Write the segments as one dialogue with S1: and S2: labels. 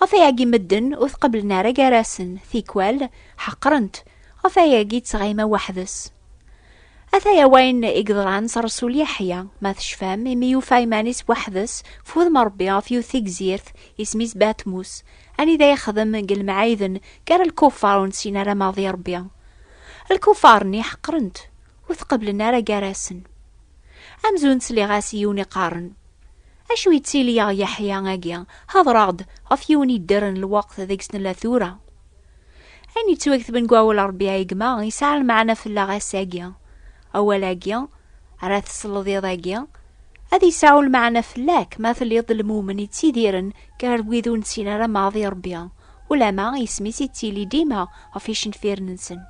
S1: Ɣef ayagi medden ur tqeblen ara gar-asen, tikwal ḥeqren-t, ɣef ayagi ttɣima weḥd-s. Ataya wayen i yeḍran s Ṛsul Yeḥya, ma tecfam, imi yufa iman-is weḥd-s f wudem n Ṛebbi ɣef yiwet tigzirt, isem-is Batmus, anida yexdem deg lemɛiden gar lkuffar ur nessin ara ma d Ṛebbi. Lkuffar-nni ḥeqren-t, ur tqeblen ara gar-asen. Amzun ttliɣ-as i yiwen iqqaren. Acu yettili yaɣ Yeḥya agi? Hedreɣ-d ɣef yiwen yedder n lweqt deg-s nella tura. Ayen yettwaktben deg wawal Rebbi ay gma yesɛa lmeɛna fell-aɣ ass-agi. Awal-agi ara tesleḍ iḍ-agi ad yesɛu lmeɛna fell-ak ma telliḍ d lmumen yettidiren gar wid ur nessin ara maḍi Rebbi, ulamma isem-is yettili dima ɣef yicenfiren-nsen.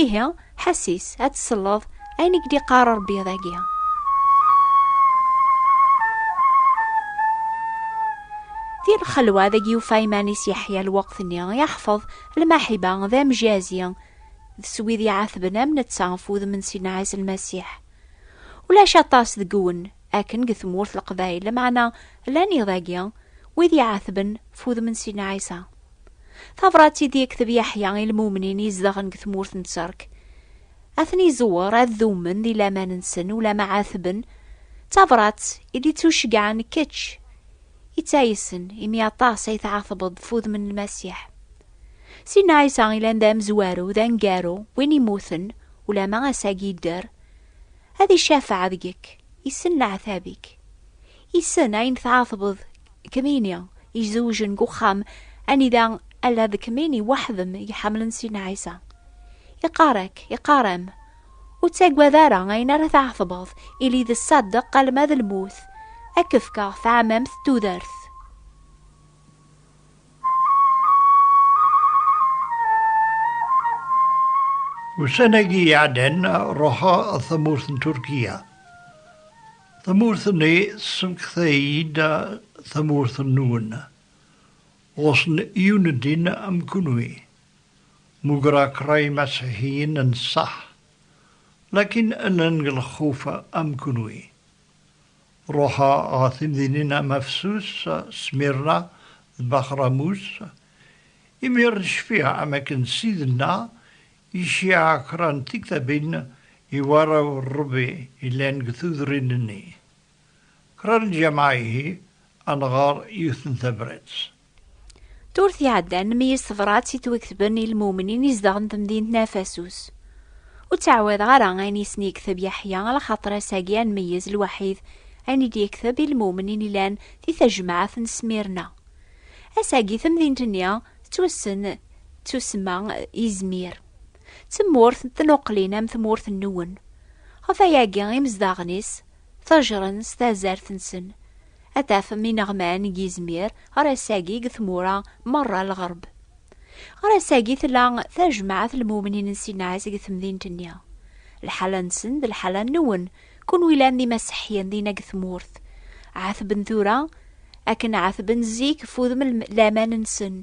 S1: Ihi, ḥasis, ad tselleḍ ayen i k-d-iqqar Rebbi dagi. Di lxelwa deg yufa iman-is Yeḥya lweqt-nni, yeḥfeḍ lmaḥiba d amjazi d s wid iɛatben am netta ɣef wudem n Sidna Ɛisa Lmasiḥ. Ulac aṭas deg wen akken deg tmurt Leqbayel, lameɛna llan iḍ-agi wid iɛatben f wudem n Sidna Ɛisa. Tabrat i d-yekteb Yaḥya i lmumnin izedɣen deg tmurt n Tterk. Ad ten-iẓewwer ad dummen di laman-nsen ulama ɛatben, d tabrat i d-ittuceggɛen kečč, i ttaysen, imi aṭas ay tɛatbeḍ ɣef wudem n Lmasiḥ. Sidna Ɛisa yellan d amezwaru, d aneggaru, win immuten, ulama ass-agi yedder. Ad icafeɛ deg-k, yessen leɛtab-ik. Yessen ayen tɛatbeḍ kmini izewjen deg uxxam anida ala d kmini waḥdem iḥamlen sin Ɛisa. Iqarek, iqarem, ur ttagad ara ayen ara tɛetbeḍ, ili d ṣṣadeq alma d lmut, ad k-fkeɣ taɛmamt d tudert.
S2: Ussan-agi iɛeddan ruḥeɣ ar tamurt n Turkiya. Tamurt-nni tessemekta-iyi-d tamurt-nwen. Ɣusen yiwen n ddin am kunwi. Mugreɣ kra imasiḥiyen n ṣṣeḥ, lakin llan deg lxuf am kunwi. Ruḥeɣ ɣer temdinin am Afsus, Smirna d Baxramus. Imir n cfiɣ am akken Ssid-nneɣ I Shiah Kran tiktabin i warraw n Rebbi yellan deg tudrin-nni. Kran lǧameɛ ihi ad nɣer yiwet n tabrat. Turt
S1: iɛeddan nmeyyez tebrat i twektben i lmumnin izedɣen temdint n Afasus. Ur ttɛawadeɣ ara ayen isen yekteb Yaḥya ala xaṭer ass-agi ad nmeyyez lwaḥid ayen i d-yekteb i lmumnin yellan di tajmaɛt n Smirna. Ass-agi temdint-nni Tettwassen d tussma Izmir. D tmurt n tnuqlin am tmurt n Nuwen. Ɣef wayagi imezdaɣen-is tttajren s tazart-nsen. Ad tafem ineɣman deg Izmir ɣer ass-agi deg tmura merra n lɣerb. Ɣer ass-agi tella Tajmaɛt Lmumnin n Sinaɛ deg temdint-nni. Lḥala-nsen d lḥala n Nuwen Kunwi yellan d imaseḥyen dinna deg tmurt, ɛetben tura akken ɛetben zik f udem n laman-nsen,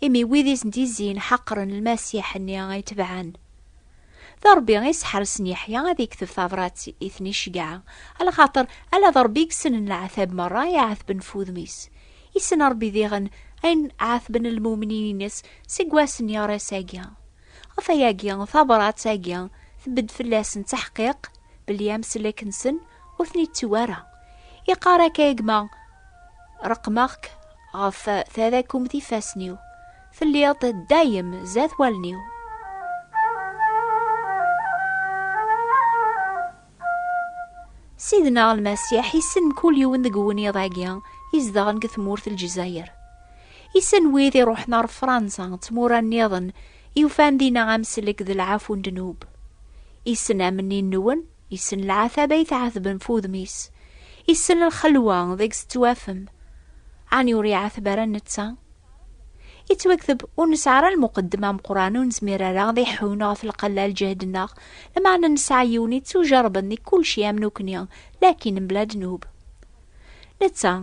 S1: imi wid i sen-d-izzin ḥeqren Lmasiḥ-nni ay tebɛen. D Ṛebbi i yesseḥrsen Yeḥya ad yekteb tabṛat i ten-iceggɛen, alaxaṭer ala d Ṛebbi i yessnen leɛtab meṛṛa i ɛetben f wudem-is. Yessen Ṛebbi diɣen ayen ɛetben lmumnin-ines seg wass n yiɣris-agi. Ɣef wayagi, tabṛat-agi tbedd fell-asen d taḥqiq belli amsellek-nsen ur ten-ittuw ara. Iqqar akka i gma, Reqmeɣ-k ɣef tadakumt ifassen-iw, telliḍ dayem zdat wallen-iw. Sidna Lmasiḥ issen mkul yiwen deg weniḍ-agi izedɣen deg tmurt n Lezzayer. Issen wid iruḥen ɣer Fransa d tmura nniḍen i ufan dinna amsellek d lɛafu n ddnub. Issen amenni-nwen, issen lɛataba i tɛatben f udem-is, issen lxelwa deg-s tettwafem. Ɛni ur iɛateb ara netta? Yettwakteb ur nesɛi ara lmuqeddem ameqran ur nezmir ara ad iḥun ɣef lqella lǧehd-nneɣ, lameɛna nesɛa yiwen yettujerben di kulci am nukni, lakin mebla ddnub. Netta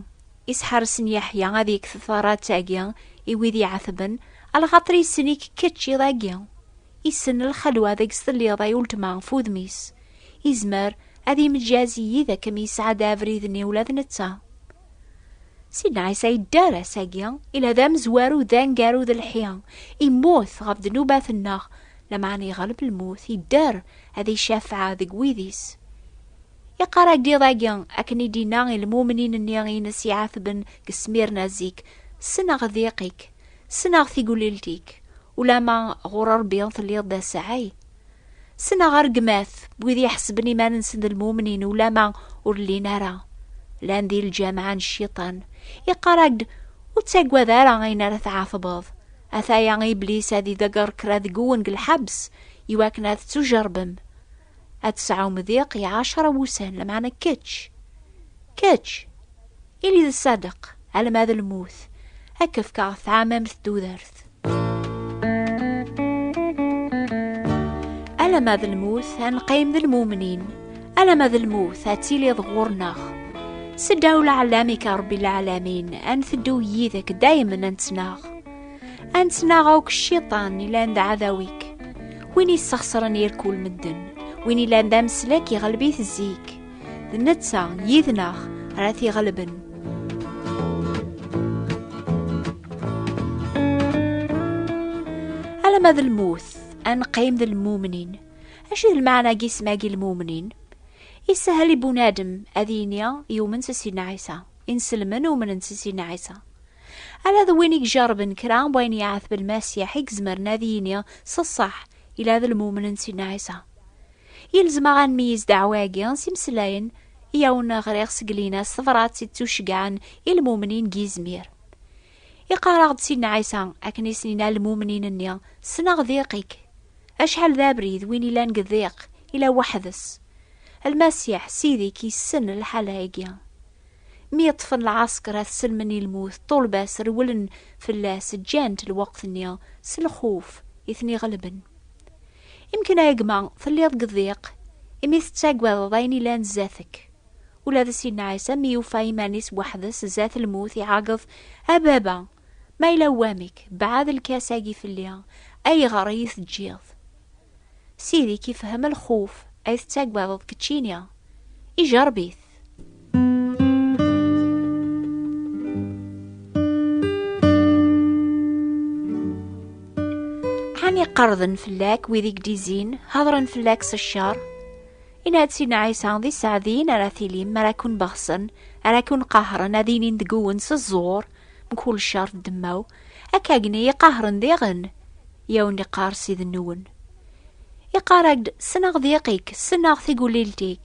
S1: yesḥersen Yeḥya ad yekk tefrat-agi i wid iɛetben, alxaṭer yessen-ik kečč iḍ agi. Yessen lxelwa deg-s telliḍ ay uletma ɣef wudem-is. Yezmer ad yemǧaz yid-k mi yesɛedda abrid-nni ula d netta. Sidna Ɛisa yedder ass-agi, ila d amezwaru d angaru d lḥi, immut ɣef ddnubat-nneɣ, lameɛna yeɣleb lmut, yedder ad icafeɛ deg wid-is. Yeqqar agiḍ-agi, akken i d-inna i lmumnin-nni ines iɛatben deg Smirna zik, Ssneɣ ddiq-ik, ssneɣ tiglilt-ik, ulama ɣur Rebbi telliḍ d asaɛi, Sneɣ argmat n wid iḥesben iman-nsen d lmumnin ulama ur llin ara. Llan di lǧameɛ n cciṭan. Iqarag-d ur ttagad ara ayen ara tɛatbeḍ. Ataya iblis ad ideger kra deg-wen deg lḥebs iwakken ad ttujerbem. Ad tesɛum diq i ɛecra wussan, lameɛna kečč, kečč, Ili d ṣṣadeq, alma d lmut, ad k-fkeɣ tɛamamt n tudert. Alama d lmut, ad neqqim d lmumnin, alama d lmut, ad tiliḍ ɣur-neɣ. Seddaw leɛlamik a Rebbi leɛlamin, ad nteddu yid-k daymen ad nettnaɣ. Ad nettnaɣ akk cciṭan ilan d ɛadaw-ik, win yessexṣren irkul medden, win ilan d amslek iɣleb-it zik. D netta yid-neɣ ara t-iɣelben. Alamma d lmut, ad neqqim d lmumnin. Acu d lmeɛna n yisem-agi lmumnin? Isahel i bunadem ad yini yumen s Sidna Ɛisa. Inselmen umnen s Sidna Ɛisa. Ala d win i ijerrben kra n wayen yeɛteb Lmasiḥ i izemren ad yini s ṣṣeḥ ila d lmumnin n Sidna Ɛisa. Yelzem-aɣ ad nmeyyez ddeɛwa-agi s imeslayen i awen-ɣriɣ seg Lina s tebṛat i ttuceggɛen i lmumnin deg yizmir. Iqqar-aɣ-d Sidna Ɛisa akken i sen-yenna lmumnin-nni, Ssneɣ diq-ik. Acḥal d abrid win yellan deg diq, yella weḥd-s. Lmasiḥ, Ssid-ik, yessen lḥala-agi. Mi ṭṭfen lɛesker ad sellmen i lmut, ṭṭulba-s rewlen fell-as, ǧǧan-t lweqt-nni s lxuf i ten-iɣelben. Imken a gma telliḍ deg ddiq imi tettagadeḍ ayen ilan zdat-k. Ula d Sidna Ɛisa mi yufa iman-is weḥd-s zdat lmut iɛeggeḍ, A Baba, ma yella wamek, beɛɛed lkas-agi fell-i, ayɣer i yi-teǧǧiḍ? Sidi-k ifehhem lxuf ay tettagadeḍ keččini, ijerreb-it. Ani qarden fell-ak wid i gdizin, hadren fell-ak s ccer? Inatsin Ɛisa d iseɛdiyen ara tilim ara kun-beɣsen, ara kun-qahren ad inin deg-wen s ẓẓur, mkul ccer d demmaw, akka agni iqahren diɣen, yaw niqar siden-nwen. Iqar-ak-d, ssneɣ diq-ik, ssneɣ tigulilt-ik,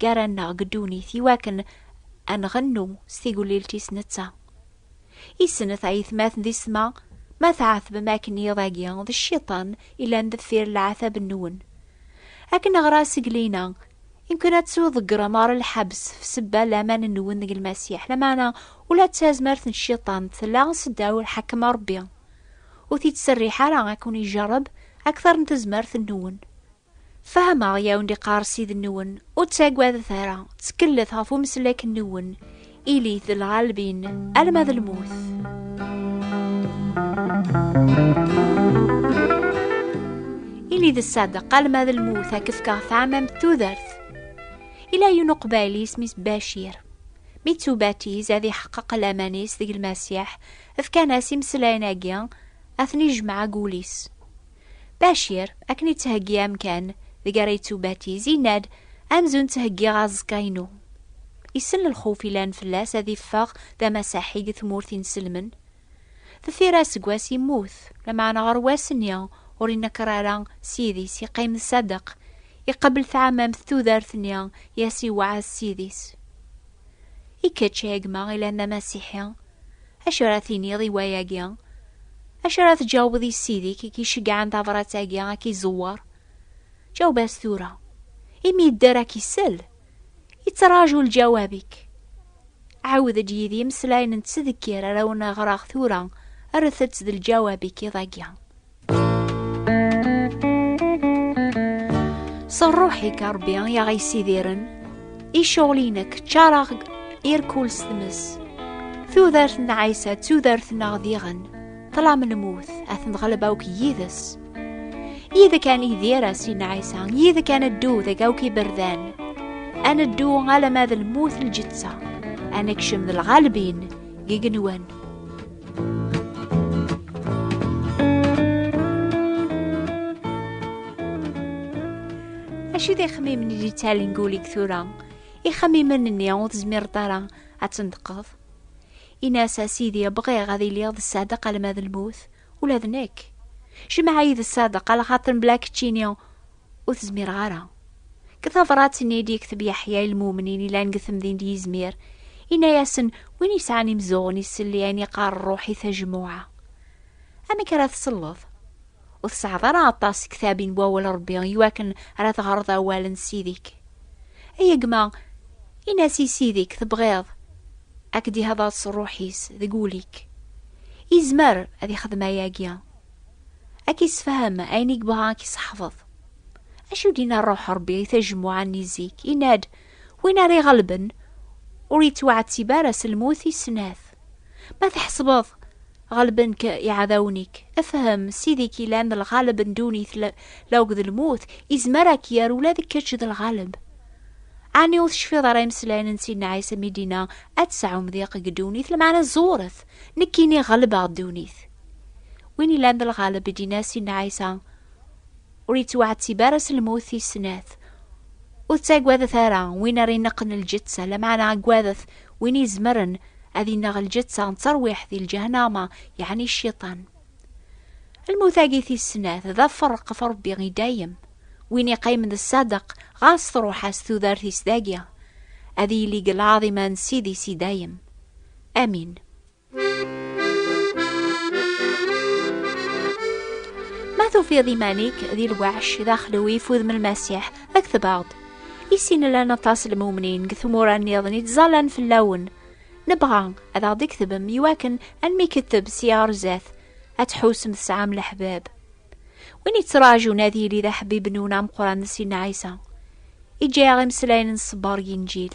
S1: gar-aneɣ deg ddunit i wakken ad nɣennu s tigellilt-is netta. I snet ay tmaten di ssma, ma tɛetbem akken iḍ-agi d cciṭan yellan deffir leɛtab-nwen. Ad k-neɣra seg lina, imken ad tḍeggrem ɣer lḥebs f sebba laman-nwen deg Lmasiḥ, lameɛna ula d tazmert n cciṭan tella seddaw lḥakem n Rebbi. Ur t-id-serriḥ ara ad ken-ijerreb akter n tezmert-nwen. Fehmeɣ yaw ndiqar sid-nwen, ur ttagadet ara, ttkellet ɣef umeslak-nwen, ilit d lɣalbin, alma d lmut. Ili d ṣṣadeq alma d lmut ad k-fkeɣ tɛamamt tudert. Ila yiwen uqbayli isem-is Bacir. Mi ttubatiz ad iḥeqqeq laman-is deg Lmasiḥ, fkan-as imeslayen-agi, ad ten-ijmeɛ deg wul-is. Bacir, akken yettheggi amkan deg ara yettubatiz, yenna-d, Amzun ttheggiɣ aẓekka-inu. Isell lxuf yellan fell-as ad iffeɣ d amasaḥi deg tmurt inselmen. Deffir aseggas yemmut, lameɛna ɣer wass-nni ur inekker ara s yidis, yeqqim d Sadeq, iqebbel tɛamamt tudert-nni i as-iwɛed s yidis. I kečč, a gma, yellan d amasiḥi, Acu ara tiniḍ i wayagi? Acu ara tǧawbeḍ i ssid-ik i k-iceggɛen tabrat-agi a k-iẓewwer? Ǧaweb-as tura, imi yedder a k-isell, yettraǧu lǧawab-ik. Ɛawed-d yid-i imeslayen n ttdekkir ara wen-ɣreɣ tura, rret-tt d lǧawab-ik iḍ-agi. S rruḥ-ik a Ṛebbi i aɣ-yessidiren, iceɣlinek ččareɣ irkul s tmes. Tudert n Ɛisa d tudert-nneɣ diɣen, ṭlam lmut, ad ten-ɣleb akk yid-s. Yid kan idir a sin Ɛisa, yid kan ddu deg akk iberdan. A neddu alamma d lmut lǧeţţa, a nekcem d lɣalbin, gigenwan. Acu d ixemmimen i d-yettalin guli tura? Ixemmimen-nni ur tezmireḍ ara ad tendeqeḍ? Ini-as a Sidi bɣiɣ ad iliɣ d ṣṣadeq alma d lmut, ula d nekk. Jmeɛ-iyi d ṣṣadeq ala xaṭer mebla keččini ur tezmireɣ ara. Deg tabṛat-nni i d-yekteb Yeḥya i lmumnin yellan deg temdint d yizmir, yenna-yasen win yesɛan imzuɣen iselli ayen yeqqar ṛṛuḥ i tajmuɛa. Amek ara tselleḍ? Ur tesɛiḍ ara aṭas tektabin n wawal n Ṛebbi i wakken ara teɣreḍ awal n Ssid-ik. Ay gma, in-as i Ssid-ik tebɣiḍ ad k-d-ihdeṛ s ṛṛuḥ-is deg wul-ik. Yezmer ad yexdem ayagi. Ad k-issefhem ayen i yebɣa ad k-isseḥfeḍ. Acu d-yenna Ṛṛuḥ Ṛebbi i tajemmuɛa-nni zik? Yenna-d, Win ara iɣelben, ur yettwaɛettib ara s lmut i snat. Ma tḥesbeḍ ɣelben-k iɛdawen-ik, fhem, Ssid-ik yellan d lɣaleb n ddunit la akked lmut, izmer ad k-yerr ula d kečč d lɣaleb. Ɛni ur tecfiḍ ara imeslayen n Sidna Ɛisa mi d-yenna, Ad tesɛum diq deg ddunit, lmeɛna ẓuret, Nekkini ɣelbeɣ ddunit. Win ilan d lɣaleb i d-inas Inna Ɛisa, ur yettwaɛettib ara s lmut tis snat. Ur ttagadet ara win ara ineqqen lǧeţţa, lameɛna aggadet win izemren ad ineɣ lǧeţţa n terwiḥt di lǧahnama, yeɛni Cciṭan. lmut-agi tis snat d aferq ɣef Rebbi i dayem, win iqqimen d ṣṣadeq ɣas truḥ-as tudert-is dagi, ad yili deg lɛaḍima n Ssid-is i dayem. Amin. Ma tufiḍ iman-ik di lweḥc d axlew ifud n Lmasiḥ, kteb-aɣ-d. I sin llan aṭas n lmumnin deg tmura-nniḍen i ttẓallan fell-awen. Nebɣa ad aɣ-d-iktbem iwakken ad nmikteb si ɣer zdat, ad tḥusem tesɛam leḥbab. Win yettraǧun ad yili d aḥbib n wen ameqran n Sidna Ɛisa. Iǧǧa-aɣ imeslayen n ṣṣber n Yinǧil.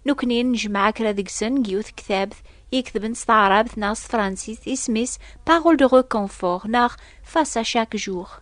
S1: Nekkni nejmeɛ kra deg-sen deg yiwet ktabt i iketben s taɛrabt neɣ s tefransist, isem-is Parole de réconfort neɣ Face à chaque jour.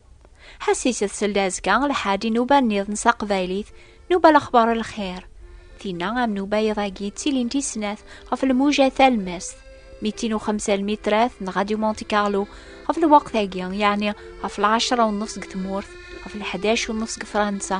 S1: Ḥasis tsel azekka lḥaǧ i nuba nniḍen s aqbaylit, nuba lexbar lxir. Tinna am nuba iḍ-agi ttilint i snat ɣef lmuja talmest, mitin u xemsa lmitrat n Radio Monte Carlo ɣef lweqt-agi, yeɛni ɣef lɛecra u nnef deg tmurt, ɣef lḥdac u nnef deg Fransa.